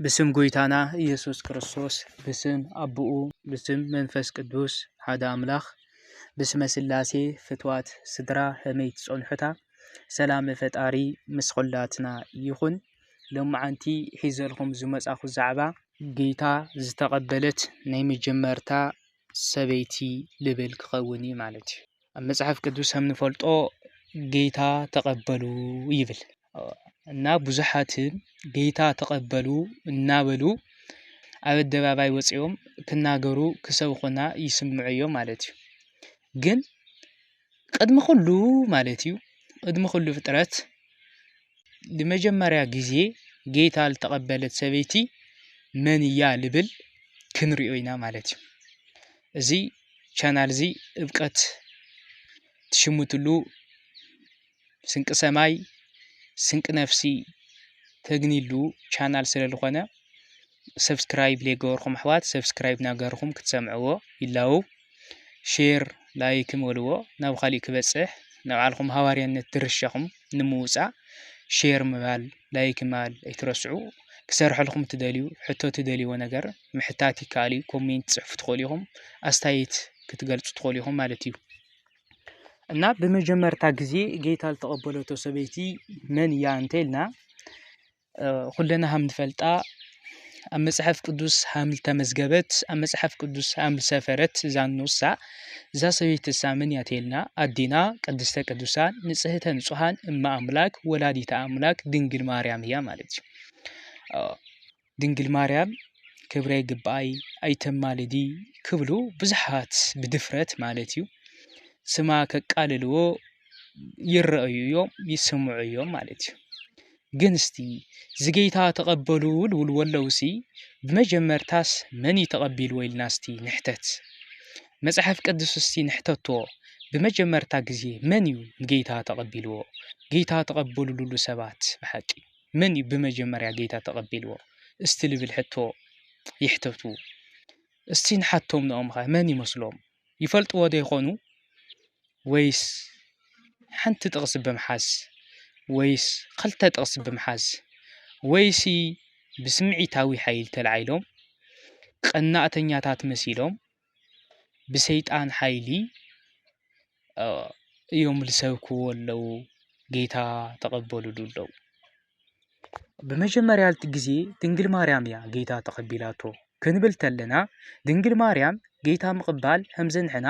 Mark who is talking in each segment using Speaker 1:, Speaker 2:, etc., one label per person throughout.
Speaker 1: ብስም ጎይታና ኢየሱስ ክርስቶስ ብስም ኣቦኡ ብስም መንፈስ ቅዱስ ሓደ ኣምላኽ ብስመ ስላሴ ፍትዋት ስድራ ከመይ ትጸንሑታ ሰላም ፈጣሪ ምስ ኹላትና ይኹን። ሎማዓንቲ ሒዘልኩም ዝመጻኹ ዛዕባ ጌታ ዝተቐበለት ናይ መጀመርታ ሰበይቲ ልብል ክኸውን እዩ ማለት እዩ። ኣብ መጽሓፍ ቅዱስ ከም ንፈልጦ ጌታ ተቐበሉ ይብል። እና ብዙሓትን ጌታ ተቐበሉ እናበሉ ኣብ ኣደባባይ ወፂኦም ክናገሩ ክሰብኹና ይስምዑ እዮም ማለት እዩ። ግን ቅድሚ ኹሉ ማለት እዩ ቅድሚ ኹሉ ፍጥረት ንመጀመርያ ጊዜ ጌታ ልተቐበለት ሰበይቲ መን እያ ልብል ክንሪኦ ኢና ማለት እዩ። እዚ ቻናል እዚ እብቀት ትሽምትሉ ስንቂ ሰማይ ስንቂ ነፍሲ ተግንይሉ ቻናል ስለ ዝኾነ ሰብስክራይብ ዘይገበርኩም ኣሕዋት ሰብስክራይብ ናገርኹም ክትሰምዕዎ ይላው ሼር ላይክ በልዎ ናብ ካሊእ ክበፅሕ ንባዕልኹም ሃዋርያነት ድርሻኹም ንምውፃእ ሼር ምባል ላይክ ምባል ኣይትረስዑ ክሰርሐልኩም ትደልዩ ሕቶ ትደልይዎ ነገር ምሕታት ይከኣል እዩ ኮሜንት ፅሕፉ ትኽእሉ ኢኹም ኣስተያየት ክትገልፁ ትኽእሉ ኢኹም ማለት እዩ እና ብመጀመርታ ግዜ ጌታ ዝተቐበለቶ ሰበይቲ መን እያ እንተልና ኩለና ሃም ንፈልጣ ኣብ መጽሓፍ ቅዱስ ሃም ዝተመዝገበት ኣብ መጽሓፍ ቅዱስ ሃም ዝሰፈረት እዛ ንሳ እዛ ሰበይቲ እሳ መን እያ ተልና ኣዲና ቅድስተ ቅዱሳን ንጽህተ ንጹሃን እማ ኣምላክ ወላዲተ ኣምላክ ድንግል ማርያም እያ ማለት እዩ። ድንግል ማርያም ክብረ ይግብኣይ ኣይተማልዲ ክብሉ ብዙሓት ብድፍረት ማለት እዩ ስማ ከቃልልዎ ይረኣዩ እዮም ይስምዑ እዮም ማለት እዩ ግን እስቲ ዝጌታ ተቐበሉ ልብሉ ኣለውሲ ብመጀመርታስ መን እዩ ተቐቢልዎ ኢልና እስቲ ንሕተት መፅሓፍ ቅዱስ እስቲ ንሕተቶ ብመጀመርታ ግዜ መን እዩ ንጌታ ተቐቢልዎ ጌታ ተቐበሉ ልብሉ ሰባት ብሓቂ መን እዩ ብመጀመርያ ጌታ ተቐቢልዎ እስቲ ልብል ሕቶ ይሕተቱ። እስቲ ንሓቶም ንኦምኸ መን ይመስሎም ይፈልጥዎ ዶ ይኾኑ ወይስ ሓንቲ ጥቕሲ ብምሓዝ ወይስ ኸልተ ጥቕሲ ብምሓዝ ወይሲ ብስምዒታዊ ሓይል ተላዒሎም ቐናእተኛታት መሲሎም ብሰይጣን ሓይሊ እዮም ዝሰብክዎ ዘለዉ ጌታ ተቐበልሉ ኣለዉ። ብመጀመርያ ግዜ ድንግል ማርያም እያ ጌታ ተቐቢላቶ ክንብል ከለና ድንግል ማርያም ጌታ ምቕባል ከምዚ ንሕና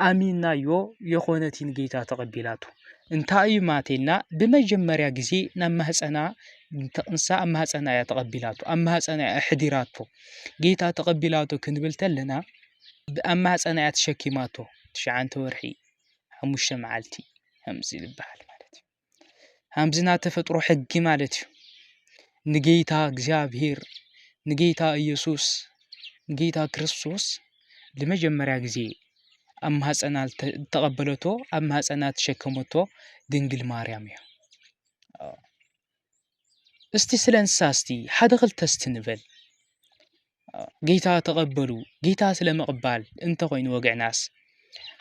Speaker 1: ኣሚንናዮ የኾነትን ጌታ ተቐቢላቶ እንታይ እዩ ማለት ኢልና ብመጀመርያ ግዜ ናብ ማህጸና ተቕንሳ ኣብ ማህጸና እያ ተቐቢላቶ ኣብ ማህጸና እያ ኣሕዲራቶ። ጌታ ተቐቢላቶ ክንብል ተለና ብኣብ ማህፀና እያ ተሸኪማቶ ትሽዓንተ ወርሒ ሓሙሽተ መዓልቲ ከምዚ ዝበሃል ማለት እዩ ከምዚ ናይ ተፈጥሮ ሕጊ ማለት እዩ ንጌታ እግዚኣብሄር ንጌታ ኢየሱስ ንጌታ ክርስቶስ ንመጀመርያ ግዜ ኣብ ማህፀና ተቐበለቶ ኣብ ማህፀና ተሸከመቶ ድንግል ማርያም እያ። እስቲ ስለ እንስሳ እስቲ ሓደ ክልተ እስቲ ንበል ጌታ ተቐበሉ ጌታ ስለ ምቕባል እንተኾይኑ ወግዕናስ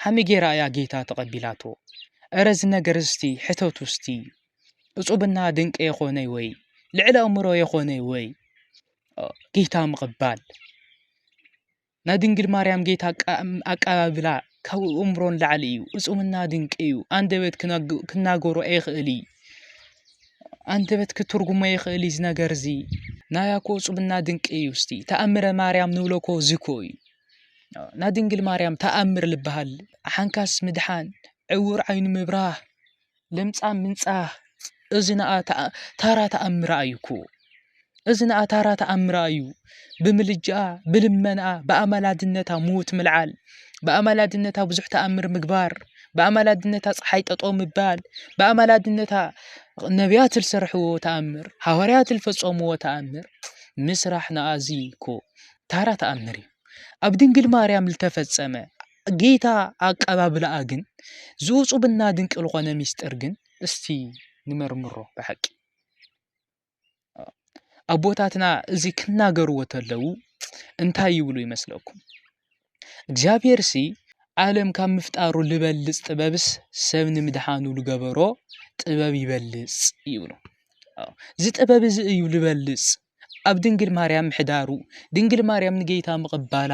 Speaker 1: ሓመይ ጌራ እያ ጌታ ተቐቢላቶ እረ እዚ ነገር እስቲ ሕተቱ እስቲ እፁብና ድንቂ የኾነይ ወይ ልዕሊ ኣእምሮ የኾነይ ወይ ጌታ ምቕባል ናይ ድንግል ማርያም ጌታ ኣቀባብላ ካብ እእምሮ ንላዕሊ እዩ እፁምና ድንቂ እዩ ኣንደበት ክናገሮ ኣይኽእል እዩ ኣንደበት ክትርጉሞ ይኽእል እዚ ነገር እዚ ናያኮ እፁምና ድንቂ እዩ እስቲ ተኣምረ ማርያም ንብለኮ ዝኮ እዩ ናይ ድንግል ማርያም ተኣምር ልበሃል ሓንካስ ምድሓን ዕውር ዓይኑ ምብራህ ለምጻም ምንጻህ እዚ ንኣ ታራ ተኣምራ እዩ እኮ እዚ ንኣ ታራ ተኣምራ እዩ ብምልጃኣ ብልመናኣ ብኣማላድነታ ምዉት ምልዓል ብኣማላድነታ ብዙሕ ተኣምር ምግባር ብኣማላድነታ ፀሓይ ጠጠው ምባል ብኣማላድነታ ነብያት ዝሰርሕዎ ተኣምር ሃዋርያት ዝፈፀምዎ ተኣምር ምስራሕ ንኣ እዚ እኮ ታራ ተኣምር እዩ ኣብ ድንግል ማርያም ዝተፈፀመ ጌይታ ኣቀባብልኣ ግን ዝኡጹብና ድንቂ ልኾነ ሚስጢር ግን እስቲ ንመርምሮ ብሓቂ ኣቦታትና እዚ ክናገርዎ ተለዉ እንታይ ይብሉ ይመስለኩም እግዚኣብሔር ሲ ዓለም ካብ ምፍጣሩ ልበልጽ ጥበብስ ሰብ ንምድሓኑ ልገበሮ ጥበብ ይበልጽ ይብሉ እዚ ጥበብ እዚ እዩ ልበልጽ ኣብ ድንግል ማርያም ምሕዳሩ ድንግል ማርያም ንጌይታ ምቕባላ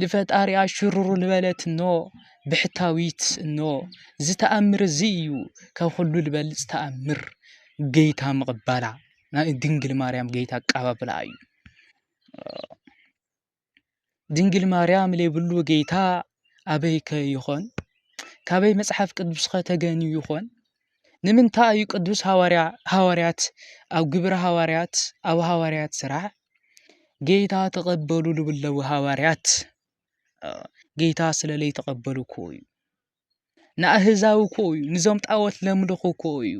Speaker 1: ልፈጣሪኣ ሽሩሩ ልበለት እኖ ብሕታዊት እኖ እዚ ተኣምር እዚ እዩ ካብ ኹሉ ልበልፅ ተኣምር ገይታ ምቕባላ ናይ ድንግል ማርያም ገይታ ኣቃባብላ እዩ ድንግል ማርያም ለይብሉ ገይታ ኣበይከ ይኾን ካበይ መጽሓፍ ቅዱስከ ተገንዩ ይኾን ንምንታይ እዩ ቅዱስ ሃዋርያ ሃዋርያት ኣብ ግብረ ሃዋርያት ኣብ ሃዋርያት ስራሕ ጌታ ተቐበሉ ልብለዊ ሃዋርያት ጌታ ስለ ለይተቐበሉ እኮ እዩ ንኣህዛዊ እኮ እዩ ንዞም ጣወት ለምልኹ እኮ እዩ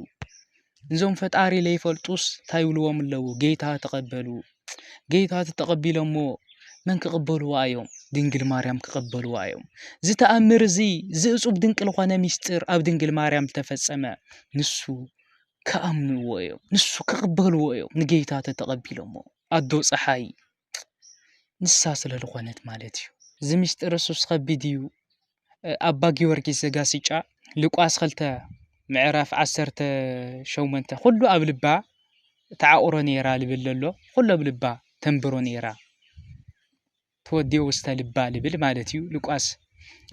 Speaker 1: ንዞም ፈጣሪ ለይፈልጡስ እንታይ ይብልዎም ኣለዉ ጌታ ተቐበሉ ጌታቲ ተቐቢሎሞ መን ክቕበልዋ እዮም? ድንግል ማርያም ክቐበልዋ እዮም። እዚ ተኣምር እዚ ዝእጹብ ድንቂ ዝኾነ ምስጢር ኣብ ድንግል ማርያም ዝተፈጸመ ንሱ ክኣምንዎ እዮም። ንሱ ክቕበልዎ እዮም። ንጌታ ተተቐቢሎሞ ኣዶ ፀሓይ ንሳ ስለ ዝኾነት ማለት እዩ። እዚ ምስጢር እሱስ ከቢድ እዩ። ኣባ ጊወርጊስ ዘጋስጫ ሉቃስ ኽልተ ምዕራፍ ዓሰርተ ሸሞንተ ዅሉ ኣብ ልባ ተዓቑሮ ነይራ ልብል ለሎ ዅሉ ኣብ ልባ ተንብሮ ነይራ ተወዲኦ ውስተ ልባ ልብል ማለት እዩ ሉቃስ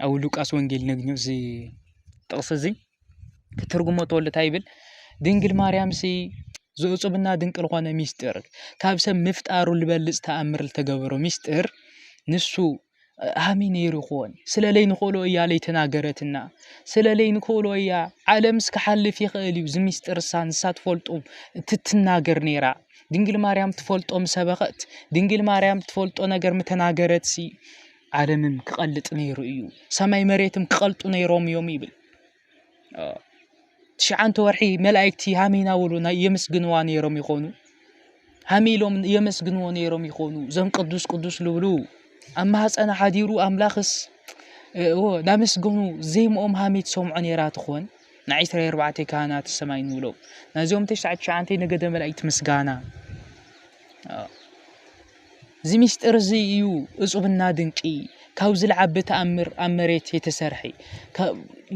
Speaker 1: ኣብ ሉቃስ ወንጌል ነግኞ እዚ ጥቕሲ እዚ ክትርጉሞ ተወሉ እንታይ ይብል ድንግል ማርያም ሲ ዘእፁብና ድንቂ ዝኾነ ሚስጢር ካብ ሰብ ምፍጣሩ ልበልፅ ተኣምር ዝተገበሮ ሚስጢር ንሱ ሃሚ ነይሩ ይኾን ስለለይ ንክእሎ እያ ለይ ተናገረትና ስለለይ ንክእሎ እያ ዓለምስ ክሓልፍ ይኽእል እዩ ዝሚስጥር እሳ ንሳ ትፈልጡ እትትናገር ነይራ ድንግል ማርያም ትፈልጦ ምሰበኸት ድንግል ማርያም ትፈልጦ ነገር ምተናገረት ሲ ዓለምም ክቐልጥ ነይሩ እዩ ሰማይ መሬትም ክቐልጡ ነይሮም እዮም ይብል ትሽዓንተ ወርሒ መላእክቲ ሃም እናበሉ የመስግንዋ ነይሮም ይኾኑ ሃም ኢሎም የመስግንዎ ነይሮም ይኾኑ ዘም ቅዱስ ቅዱስ ልብሉ ኣብ ማህፀና ሓዲሩ ኣምላኽስ ናመስገኑ ዜምኦም ሃሜት ሰምዖ ነይራ ትኾን ንዒስራ ኣርባዕተ ካህናት ሰማይ ንብሎም ናይዞም ተሽዓ ትሽዓንተ ነገደ መላእክቲ ምስጋና እዚ ምስጢር እዚ እዩ እጹብና ድንቂ ካብ ዝልዓቢ ተኣምር ኣብ መሬት የተሰርሐ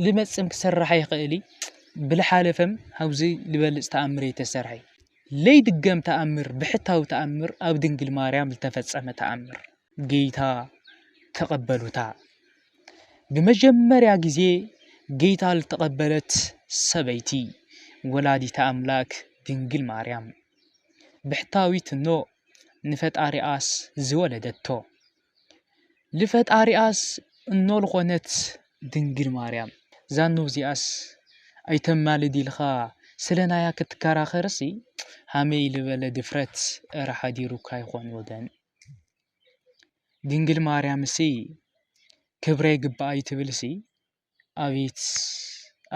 Speaker 1: ልመጽም ክስራሕ ኣይኽእል ብልሓለፈም ሃብዚ ልበልጽ ተኣምር የተሰርሐ ለይድገም ተኣምር ብሕታዊ ተኣምር ኣብ ድንግል ማርያም ዝተፈጸመ ተኣምር ጌታ ተቐበሉታ ብመጀመርያ ጊዜ ጌታ ልተቐበለት ሰበይቲ ወላዲታ ኣምላክ ድንግል ማርያም ብሕታዊት እኖ ንፈጣሪኣስ ዝወለደቶ ልፈጣሪኣስ እኖ ልኾነት ድንግል ማርያም ዛኖ እዚኣስ ኣይተማልድ ኢልኻ ስለናያ ክትከራኸርሲ ሃመይ ልበለ ድፍረት እረ ሓዲሩካ ይኾን ወገን ድንግል ማርያምሲ ክብረ ይግብኣይ ትብልሲ ኣቤት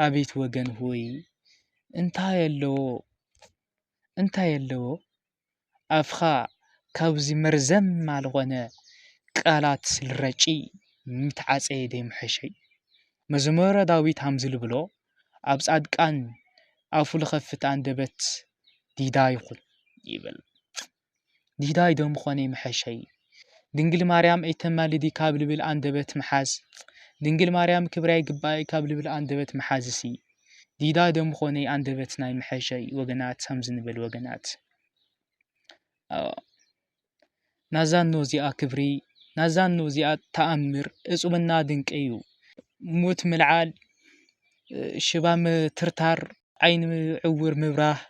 Speaker 1: ኣቤት ወገን ሆይ እንታይ ኣለዎ እንታይ ኣለዎ ኣፍኻ ካብዚ መርዘማ ልኾነ ቃላት ልረጪ ምተዓጸየ ደይምሐሸይ መዝሙረ ዳዊት ሃምዚ ልብሎ ኣብ ጻድቃን ኣፉ ልኸፍት ኣንደበት ዲዳ ይኹን ይብል ዲዳ ይዶ ምኾነይ ምሐሸይ ድንግል ማርያም እይተማልዲ ካብ ልብል ኣንደበት ምሓዝ ድንግል ማርያም ክብራ ይግብኣኪ ካብ ልብል ኣንደበት ምሓዝሲ ዲዳ ዶ ምኾነይ ኣንደበት ናይ ምሐሸይ ወገናት ከምዚ ንበል ወገናት ኣዎ ናዛ እኖ እዚኣ ክብሪ ናዛ እኖ እዚኣ ተኣምር እጹብና ድንቂ እዩ ሙት ምልዓል ሽባ ምትርታር ዓይኒ ዕውር ምብራህ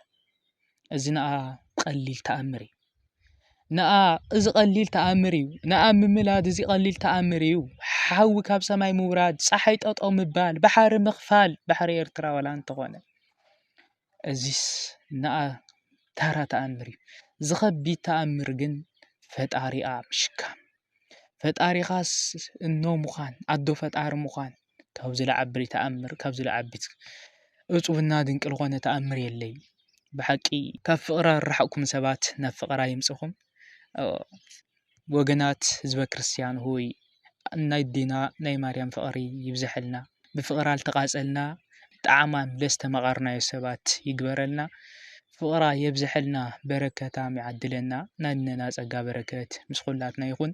Speaker 1: እዚ ነኣ ቀሊል ተኣምር እዩ ነኣ እዚ ቀሊል ተኣምር እዩ ነኣ ምምላድ እዚ ቀሊል ተኣምር እዩ ሓዊ ካብ ሰማይ ምውራድ ፀሓይ ጠጦ ምባል ባሕሪ ምኽፋል ባሕሪ ኤርትራ ዋላ እንተኾነ እዚስ ነኣ ተራ ተኣምር እዩ ዝኸቢድ ተኣምር ግን ፈጣሪኣ ምሽካም ፈጣሪኻስ እኖ ምዃን ኣዶ ፈጣሪ ምዃን ካብ ዝለዓብሪ ተኣምር ካብ ዝለዓብት እፁብና ድንቂ ልኾነ ተኣምር የለይ ብሓቂ ካብ ፍቕራ ርሓቕኩም ሰባት ናብ ፍቕራ ይምጽኹም ወገናት ህዝበ ክርስቲያን ሆይ ናይ ኣዴና ናይ ማርያም ፍቕሪ ይብዘሐልና ብፍቕራ ልተቓጸልና ጣዕማ ደስ ተመቓርናዮ ሰባት ይግበረልና ፍቕራ የብዘሐልና በረከታም ይዓድለና ናነና ጸጋ በረከት ምስ ኹላትና ይኹን።